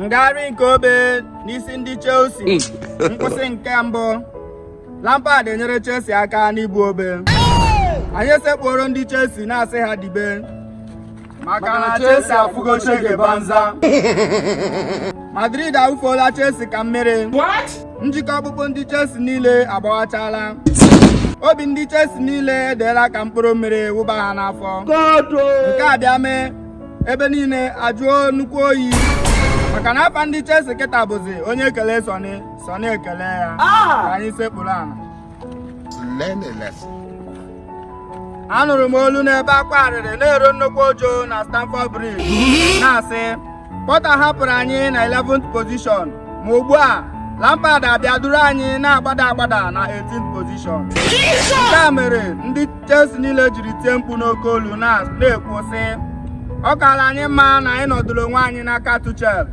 ngagharị nke obe n'isi ndị Chelsea hmm. nkwụsị nke mbụ Lampard enyere Chelsea aka n'ibu obe anyị esekpuoro ndị Chelsea na-asị ha dibe maka na Chelsea afụgo shege banza Madrid awụfuola Chelsea ka mmiri njikọ ọkpụkpụ ndị Chelsea niile agbawachala obi ndị Chelsea niile edeela ka mkpụrụ mmiri wụba ha n'afọ nke a bịa mee ebe niile ajụọ nnukwu oyi maka na afa ndị Chelsea kịta bụzi onye kele Sunny Sunny ekele ya ka anyị sekpuru ana anụrụ m olu n'ebe akwa arịrị na-eru nnukwu uju na Stamford Bridge na-asị Potter hapụrụ anyị na 11th position ma ugbu a Lampard abịa duru anyị na-agbada agbada na 18th position nke a mere ndị Chelsea niile jiri tie mkpu n'oke olu na-ekwu sị ọ kaala anyị mma na anyị nọdụrụ onwe anyị n'aka Tuchel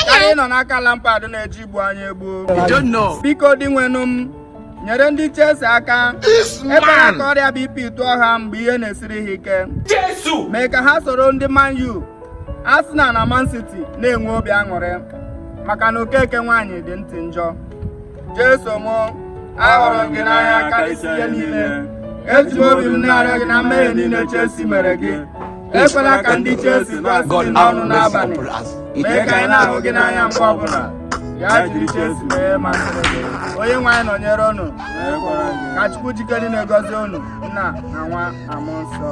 karịa ịnọ n'aka Lampard na-eje igbu anyị egbu biko Dinwenụ m nyere ndị Chelsea aka ebe aka ọrịa BP tụọ ha mgbe ihe na-esiri ha ike mee ka ha soro ndị Man U Arsenal na Man City na-enwe obi aṅụrị maka na Okeke nwaanyị dị ntị njọ Jesu m ahụrụ m gị n'anya karịsịa ihe niile eji m obi m na-arịọ gị na mmehie niile Chelsea mere gị ekwela ka ndị Chelsea gbasị gị n'ọnụ n'abalị mee ka anyị na-ahụ gị n'anya mgbe ọbụla ya jiri Chelsea mee ihe masịrị gị onye nwe anyị nọnyere unu ka Chukwu ji ike niile gọzie unu nna na nwa na Mmụọ Nsọ